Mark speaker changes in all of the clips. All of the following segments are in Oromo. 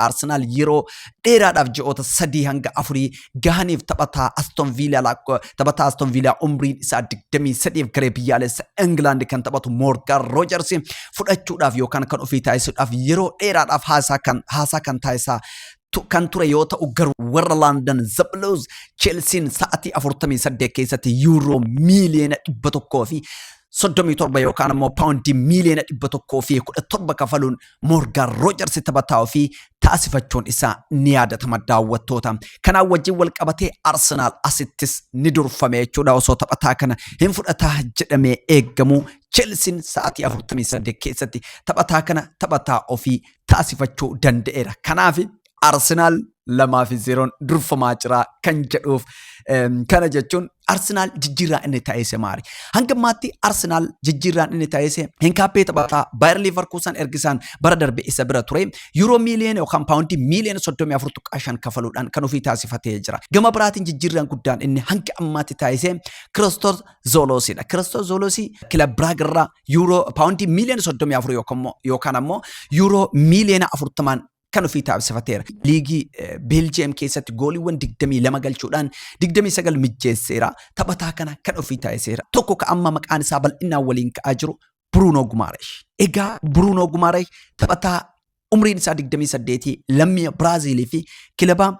Speaker 1: Istook Arsenaal yeroo dheeraadhaaf ji'oota sadii hanga afurii gahaniif taphataa Aston Viilaa taphataa Aston Viilaa umriin isaa 23f garee biyyaalessa Ingilaandi kan taphatu Moorgan Roojers fudhachuudhaaf yookaan kan ofii taasisuudhaaf yeroo dheeraadhaaf haasaa kan haasaa kan taasisaa tu- kan ture yoo ta'u garuu warra London The Blues Chelsiin sa'atii 48 keessatti yuuroo miiliyoona 100 fi soddomii torba yookaan immoo paawundii miiliyoona dhibba tokkoo fi kudha torba kafaluun Moorgaan Roojarsi taphataa ofii taasifachuun isaa ni yaadatama daawwattoota. Kanaan wajjin wal qabatee Arsenaal asittis ni durfame jechuudha osoo taphataa kana hin fudhataa jedhamee eegamu Chelsiin sa'aatii 48 keessatti taphataa kana taphataa ofii taasifachuu danda'eera. Kanaaf Arsenaal lamaa fi zeeroon durfamaa jira kan jedhuuf kana jechuun Arsenaal jijjiirraa inni taasise maali? Hanga ammaatti Arsenaal jijjiirraan inni taasise Hinkaappee taphataa Baayar Liivarkuusan ergisaan bara darbe isa bira ture Yuuroo miiliyoona yookaan paawundii miiliyoona soddomii afur tuqaa shan kafaluudhaan kan ofii taasifatee jira. Gama biraatiin jijjiirraan guddaan inni hanga ammaatti taasise Kiristoos Zooloosidha. Kiristoos Zooloosii kilab Biraag irraa Yuuroo paawundii miiliyoona soddomii afur yookaan ammoo Yuuroo miiliyoona afurtamaan kan ofii taasifateera. Liigii Beeljiyeem keessatti gooliiwwan 22 galchuudhaan 29 mijjeesseera. Taphataa kana kan ofii taasiseera. Tokko ka amma maqaan isaa bal'inaan waliin ka'aa jiru Buruunoo Gumaaresh. Egaa Buruunoo Gumaaresh taphataa umriin isaa 28 lammii Biraaziilii fi kilabaa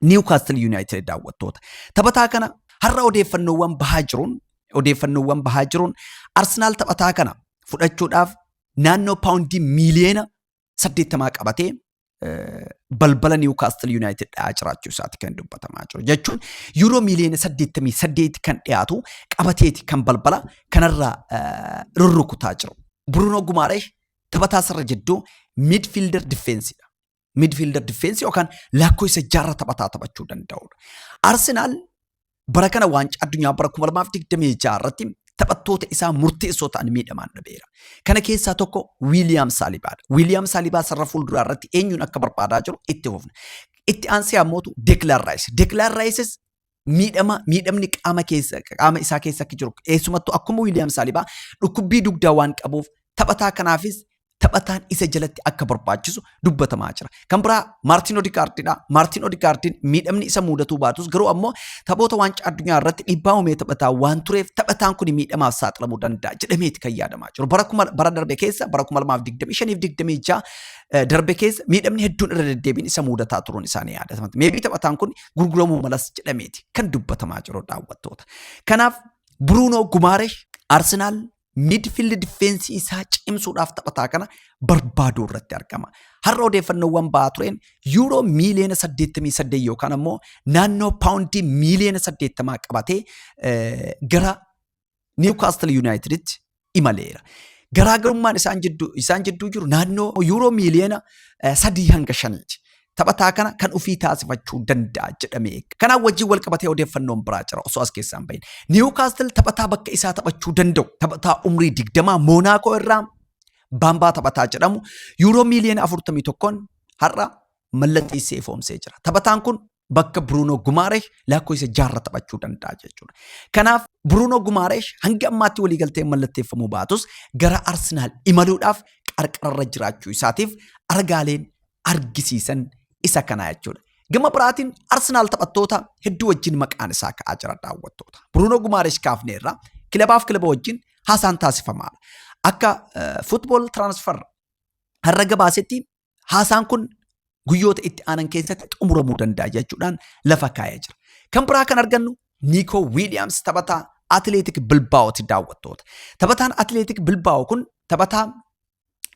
Speaker 1: Niwkaastil Yuunaayitid daawwattoota. Taphataa kana har'a odeeffannoowwan bahaa jiruun odeeffannoowwan bahaa jiruun Arsenaal taphataa kana fudhachuudhaaf naannoo paawundii miiliyoona saddeettamaa qabatee balbala Niwukaastil Yuunaayitid dha'aa jiraachuu isaati kan dubbatamaa jiru. Jechuun yuuroo miiliyoona saddeettamii saddeeti kan dhiyaatu qabateeti kan balbala kanarraa rurrukutaa jiru. Buruunoo Gumaaree taphataa sarara jidduu miidfiilder difeensidha. Miidfiilder difeensi yookaan lakkoo isa jaarra taphataa taphachuu danda'udha. Arsenaal bara kana waancaa addunyaa bara 2026 irratti taphattoota isaa murteessoo ta'an miidhamaan dhabeera. Kana keessaa tokko Wiiliyaam Saalibaadha. Wiiliyaam Saalibaa sarara fuulduraa irratti eenyuun akka barbaadaa jiru itti fufna. Itti aansee ammootu Deekilaan Raayis. Deekilaan Raayisis miidhama miidhamni qaama keessa qaama isaa keessa akka jiru eessumattuu akkuma Wiiliyaam Saalibaa dhukkubbii dugdaa waan qabuuf taphataa kanaafis taphataan isa jalatti akka barbaachisu dubbatamaa jira. Kan biraa Maartiin Odikaartiidha. Maartiin Odikaartiin miidhamni isa mudatuu baatus garuu ammoo taphoota waancaa addunyaa irratti dhiibbaa uumee taphataa waan tureef taphataan kun miidhamaaf saaxilamuu danda'a jedhameeti kan yaadamaa jiru. Bara kuma bara darbe keessa bara 2025 darbe keessa miidhamni hedduun irra deddeebiin isa mudataa turuun isaanii yaadatama. Meebii taphataan kun gurguramuu malas jedhameeti kan dubbatamaa jiru daawwattoota. Kanaaf Bruunoo Gumaaresh Arsenaal midfield difeensii isaa cimsuudhaaf taphataa kana barbaaduu irratti argama. Har'a odeeffannoowwan ba'aa tureen yuuroo miiliyoona 88 yookaan ammoo naannoo paawundii miiliyoona 80 qabatee gara Niwkaastil Yuunaayitiditti imaleera. Garaagarummaan isaan jidduu jiru naannoo yuuroo miiliyoona 3 hanga 5ti. taphataa kana kan ofii taasifachuu danda'a jedhamee eega. Kanaan wajjin wal qabatee odeeffannoon biraa jira osoo as keessaa hin bahin. Niwukaastil taphataa bakka isaa taphachuu danda'u taphataa umrii digdamaa Moonaakoo irraa baambaa taphataa jedhamu yuuroo miiliyoona afurtamii tokkoon har'a mallatteessee ifoomsee jira. Taphataan kun bakka Bruunoo Gumaareesh lakkoofsa jaarra taphachuu danda'a jechuudha. Kanaaf Bruunoo Gumaareesh hanga ammaatti waliigaltee mallatteeffamuu baatus gara Arsenaal imaluudhaaf qarqararra jiraachuu isaatiif argaaleen argisiisan isa kana jechuudha. Gama biraatiin Arsenaal taphattoota hedduu wajjin maqaan isaa ka'aa jira daawwattoota. Bruno Gumaarish kaafneerra kilabaaf kilaba wajjin haasaan taasifamaadha. Akka football transfer har'a gabaasetti haasaan kun guyyoota itti aanan keessatti xumuramuu danda'a jechuudhaan lafa kaa'ee jira. Kan biraa kan argannu Nico Williams taphataa Atileetik Bilbaa'ooti daawwattoota. Taphataan Atileetik Bilbaa'oo kun taphataa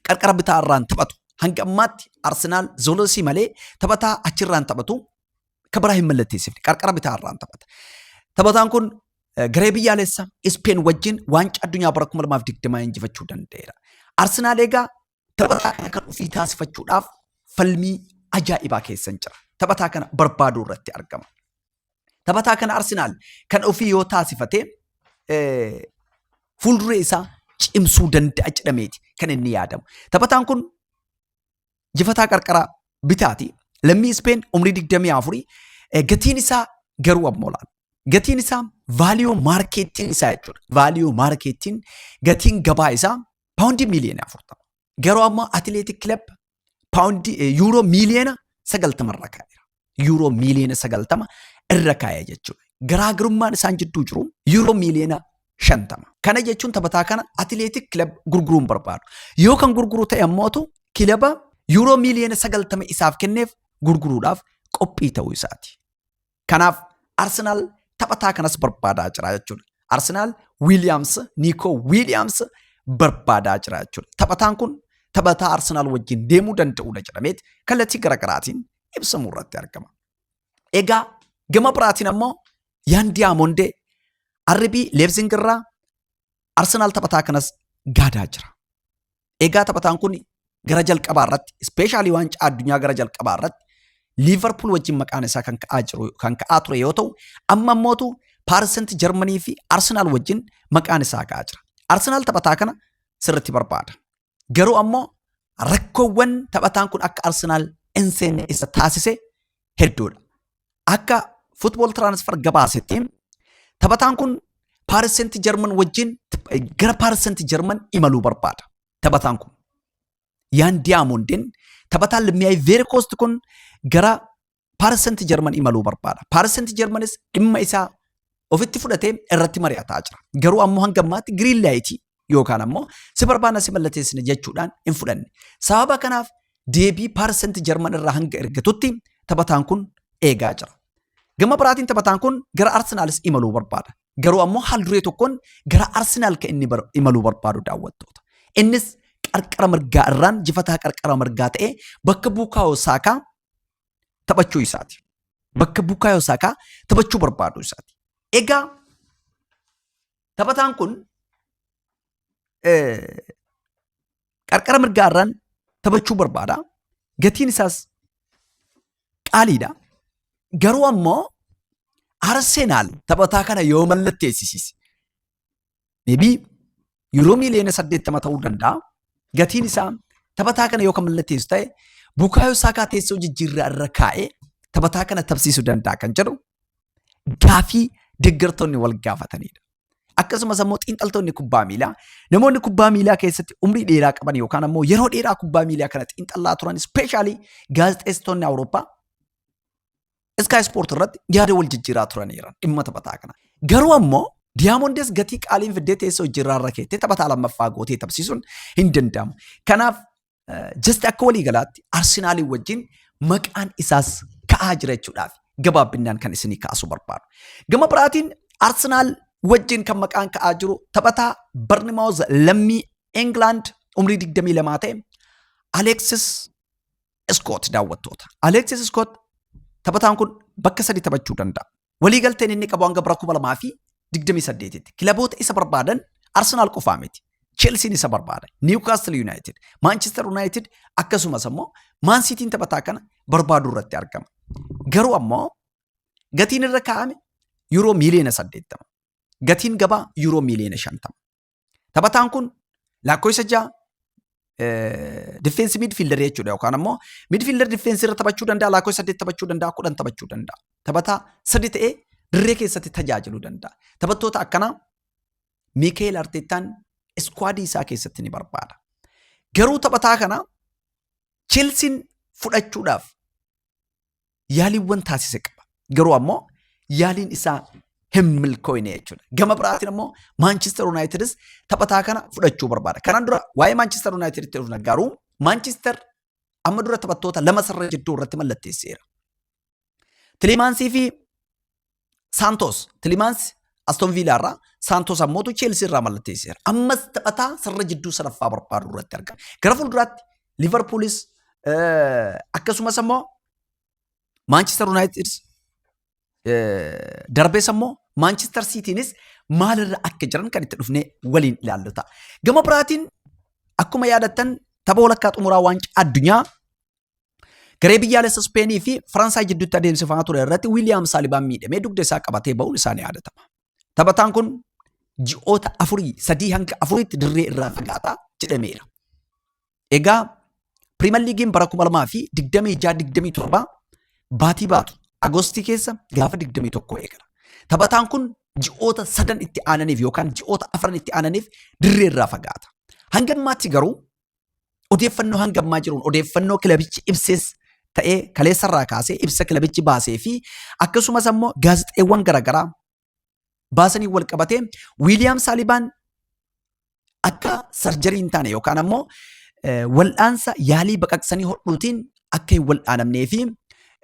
Speaker 1: qarqara bitaa irraan taphatu. Hanga ammaatti Arsenaal Zoolosii malee taphataa achirraan taphatu kan biraa hin mallatteessifne qarqara bitaa irraan taphata. Taphataan kun eh, garee biyyaalessa Ispeen wajjin waancaa addunyaa bara 2020 injifachuu danda'eera. Arsenaal egaa taphataa kana kan ofii taasifachuudhaaf falmii ajaa'ibaa keessa jira. Taphataa kana barbaaduu irratti argama. Taphataa kana Arsenaal kan ofii yoo taasifate eh, fuulduree isaa cimsuu danda'a jedhameeti kan inni yaadamu. Taphataan kun jifataa qarqaraa bitaati. Lammii Ispeen umrii 24 eh, gatiin isaa garuu amma olaana. Gatiin isaa vaaliyoo maarkeettiin isaa jechuudha. Vaaliyoo maarkeettiin gatiin gabaa isaa paawundii miiliyoona 40. Garuu ammoo atileetik kilab paawundii eh, yuuroo miiliyoona sagaltama irra kaa'eera. Yuuroo miiliyoona sagaltama irra kaa'e jechuudha. Garaagarummaan isaan jidduu jiru yuuroo miiliyoona shantama. Kana jechuun taphataa kana atileetik kilab gurguruu hin barbaadu. Yoo kan gurguru ta'e ammootu kilaba yuuroo miiliyoona sagaltama isaaf kenneef gurguruudhaaf qophii ta'uu isaati. Kanaaf Arsenaal taphataa kanas barbaadaa jira jechuudha. Arsenaal Wiiliyaams, Niikoo Wiiliyaams barbaadaa jira jechuudha. Taphataan kun taphataa Arsenaal wajjin deemuu danda'udha jedhameet kallattii garaagaraatiin ibsamuu irratti argama. Egaa gama biraatiin ammoo Yaan Diyaamondee RB Leebzing irraa Arsenaal taphataa kanas gaadaa jira. Egaa taphataan kun gara jalqabaa irratti ispeeshaalii waancaa addunyaa gara jalqabaa irratti Liivarpuul wajjin maqaan isaa kan ka'aa jiru kan ka'aa ture yoo ta'u amma immootu Paarisent Jarmanii fi Arsenaal wajjin maqaan isaa ka'aa jira. Arsenaal taphataa kana sirriitti barbaada. Garuu ammoo rakkoowwan taphataan kun akka Arsenaal hin seenne isa taasise hedduudha. Akka Football Transfer gabaasetti taphataan kun Paaris Seent Jarman wajjin gara Paaris Seent Jarman imaluu barbaada. Taphataan kun Yaan Diyaamondin taphataan lammii Ivory Coast kun gara Paaris Seent Jarman imaluu barbaada. Paaris Seent Jarmanis dhimma isaa ofitti fudhatee irratti mari'ataa jira. Garuu ammoo hanga ammaatti giriin laayitii yookaan ammoo si barbaanna si mallateessina jechuudhaan hin fudhanne. Sababa kanaaf deebii paarsenti Jarman irraa hanga ergatutti taphataan kun eegaa jira. Gama biraatiin taphataan kun gara Arsenaalis imaluu barbaada. Garuu ammoo haal duree tokkoon gara Arsenaal kan inni imaluu barbaadu daawwattoota. Innis qarqara mirgaa irraan jifataa qarqara mirgaa ta'ee bakka buukaa'oo saakaa taphachuu isaati. Bakka Bukaayoo Saakaa taphachuu barbaaduu isaati. Egaa taphataan kun qarqara mirgaa irraan taphachuu barbaada. Gatiin isaas qaaliidha. Garuu ammoo Arsenaal taphataa kana yoo mallatteessisiise Meebii yuuroo miiliyoona saddeettama ta'uu danda'a. Gatiin isaa taphataa kana yoo kan mallatteessu ta'e Bukaayoo Saakaa teessoo jijjiirraa irra kaa'ee taphataa kana taphsiisuu danda'a kan jedhu gaafii deeggartoonni wal gaafatanidha. Akkasumas ammoo xiinxaltoonni kubbaa miilaa namoonni kubbaa miilaa keessatti umrii dheeraa qaban yookaan ammoo yeroo dheeraa kubbaa miilaa kana xiinxallaa turan ispeeshaalii gaazexeessitoonni Awurooppaa Sky Sport irratti yaada wal jijjiiraa turaniiran dhimma taphataa kana. Garuu ammoo Diyamondes gatii qaaliin fiddee teessoo hojirraa irra keettee taphataa lammaffaa gootee taphsiisuun hin danda'amu. Kanaaf jasti akka walii galaatti Arsenaaliin wajjin maqaan isaas ka'aa jira jechuudhaaf gabaabbinnaan kan isinii kaasuu barbaadu. Gama biraatiin Arsenaal wajjin kan maqaan ka'aa jiru taphataa Barnimaawuz lammii England umrii 22 ta'e Alexis Iskoot daawwattoota. Aleeksis Iskoot taphataan kun bakka sadi taphachuu danda'a. Waliigalteen inni qabu hanga bara 2028tti. Kilaboota isa barbaadan Arsenaal qofaa miti. Chelsiin isa barbaada. Niwkaastil Yuunaayitid, Maanchestar Yuunaayitid akkasumas ammoo Maan Siitiin taphataa kana barbaaduu irratti argama. Garuu ammoo gatiin irra kaa'ame yuuroo miiliyoona 80. Gatiin gabaa yuuroo miiliyoona 50. Taphataan kun lakkoofsa ja'a difeensi midfiildarii jechuudha yookaan ammoo midfiildar difeensi irra taphachuu danda'a lakkoofsa saddeet taphachuu danda'a kudhan taphachuu danda'a. Taphataa sadi ta'ee dirree keessatti tajaajiluu danda'a. Taphattoota akkanaa Miikeel Arteettaan iskwaadii isaa keessatti ni barbaada. Garuu taphataa kana Chelsiin fudhachuudhaaf yaaliiwwan taasise qaba. Garuu ammoo yaaliin isaa hin milkooyne jechuudha. Gama biraatiin ammoo Maanchister Yuunaayitidis taphataa kana fudhachuu barbaada. Kanaan dura waa'ee Maanchister Yuunaayitiditti dhufna garuu Maanchister amma dura taphattoota lama sarara jidduu irratti mallatteesseera. Tileemaansii fi Saantoos Tilimaansi Aston Viilaa irraa Saantoos ammootu Cheelsii irraa mallatteesseera. Ammas taphataa sarara jidduu sadaffaa barbaadu irratti argama. Gara fuulduraatti Liverpoolis akkasumas ammoo Maanchister Yuunaayitid darbees ammoo Maanchister Siitiinis maalirra akka jiran kan itti dhufnee waliin ilaallu ta'a. Gama biraatiin akkuma yaadattan tapha walakkaa xumuraa waancaa addunyaa Garee biyyaalessa Ispeenii fi Faransaay jidduutti adeemsifamaa ture irratti Wiiliyaam Saalibaan miidhamee dugda isaa qabatee ba'uun isaa ni yaadatama. Taphataan kun ji'oota afurii sadii hanga afuriitti dirree irraa fagaataa jedhameera. Egaa Piriimer Liigiin bara 2026-27 baatii baatu Agostii keessa gaafa 21 eegala. Taphataan kun ji'oota sadan itti aananiif yookaan ji'oota afran itti aananiif dirree irraa fagaata. Hanga ammaatti garuu Odeeffannoo hanga ammaa jiruun odeeffannoo kilabichi ibsees ta'ee kaleessarraa kaasee ibsa kilabichi baasee fi akkasumas ammoo gaazexeewwan garaagaraa baasanii wal qabatee Wiiliyaam Saalibaan akka sarjarii hin taane yookaan ammoo eh, wal'aansa yaalii baqaqsanii hodhuutiin akka hin wal'aanamnee fi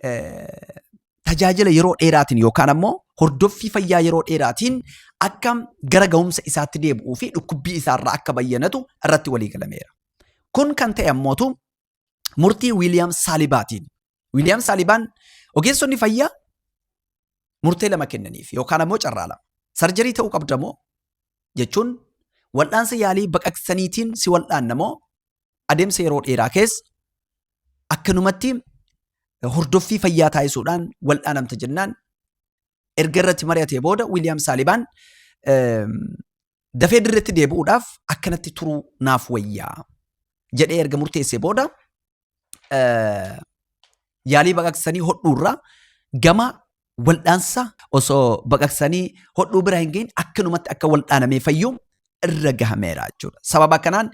Speaker 1: eh, tajaajila yeroo dheeraatiin yookaan ammoo hordoffii fayyaa yeroo dheeraatiin akka gara ga'umsa isaatti deebi'uu fi dhukkubbii isaarraa akka bayyanatu irratti walii galameera. Kun kan ta'e ammootu murtii Wiiliyaam Saalibaatiin. Wiiliyaam Saalibaan ogeessonni fayyaa murtee lama kennaniif yookaan ammoo carraa lama. Sarjarii ta'uu qabda moo jechuun wal'aansa yaalii baqaqsaniitiin si wal'aanna moo adeemsa yeroo dheeraa keessa akkanumatti hordoffii fayyaa taasisuudhaan wal'aanamta jennaan erga irratti mari'atee booda Wiiliyaam Saalibaan dafee dirretti deebi'uudhaaf akkanatti turuu naaf wayyaa jedhee erga murteessee booda yaalii baqaqsanii hodhuurraa gama waldhaansa osoo baqaqsanii hodhuu bira hin gahin akkanumatti akka waldhaanamee fayyu irra gahameera jechuudha. Sababa kanaan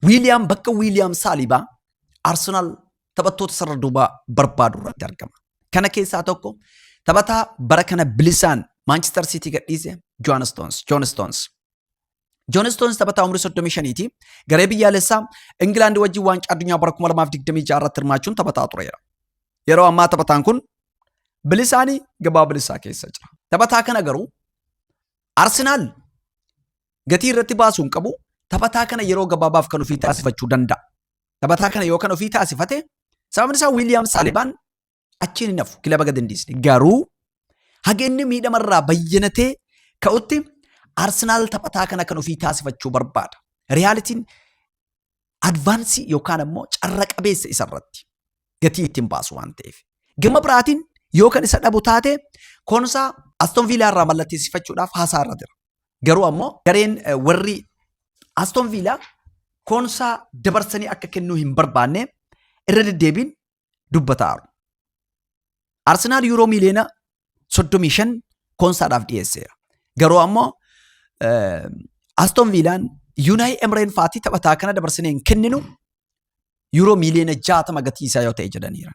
Speaker 1: Wiiliyaam bakka Wiiliyaam Saalibaa Arsenaal taphattoota sarara duubaa barbaadu irratti argama. Kana keessaa tokko taphataa bara kana bilisaan Maanchister Siitii gadhiise Joon Stoons. Joon Stoons. Joon Istoons taphataa umrii 35 ti. Garee biyyaalessaa Ingilaandi wajjin waancaa addunyaa bara 2026 irratti hirmaachuun taphataa tureera. Yeroo ammaa taphataan kun bilisaanii gabaa bilisaa keessa jira. Taphataa kana garuu Arsenaal gatii irratti baasuu hin qabu. Taphataa kana yeroo gabaabaaf kan ofii taasifachuu danda'a. Taphataa kana yoo kan ofii taasifate sababni isaa Wiiliyaam Saalibaan Achiin hin hafu kilaba gad hin dhiisne. Garuu haga inni miidhamarraa bayyanatee ka'utti Arsenaal taphataa kana kan ofii taasifachuu barbaada. Riyaalitiin advaansii yookaan ammoo carra qabeessa isarratti gatii ittiin baasu waan ta'eef. Gama biraatiin yoo kan isa dhabu taate koonsaa Aston Viilaa irraa mallatteessifachuudhaaf haasaa irra jira. Garuu ammoo gareen eh, warri Aston Viilaa koonsaa dabarsanii akka kennuu hin barbaanne irra deddeebiin dubbataaru. Arsenaal yuuroo miiliyoona 35 koonsaadhaaf dhiyeesseera. Garuu ammoo Aston Viilaan Yuunaay Emreen faatii taphataa kana dabarsinee hin kenninu yuuroo miiliyoona 60 gatii isaa yoo ta'e jedhaniiran.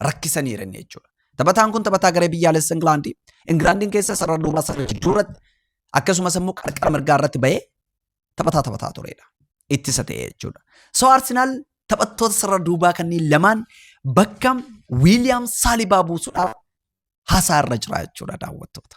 Speaker 1: Rakkisaniiran jechuudha. Taphataan kun taphataa garee biyyaalessa Ingilaandi. Ingilaandiin keessa sarara duubaa sarara jidduu irratti akkasumas immoo qarqara mirgaa irratti bahee taphataa taphataa turedha. Ittisa ta'e jechuudha. So Arsenaal taphattoota sarara duubaa kanneen lamaan bakka Wiiliyaam Saalibaa buusuudhaaf haasaa irra jira jechuudha daawwattoota.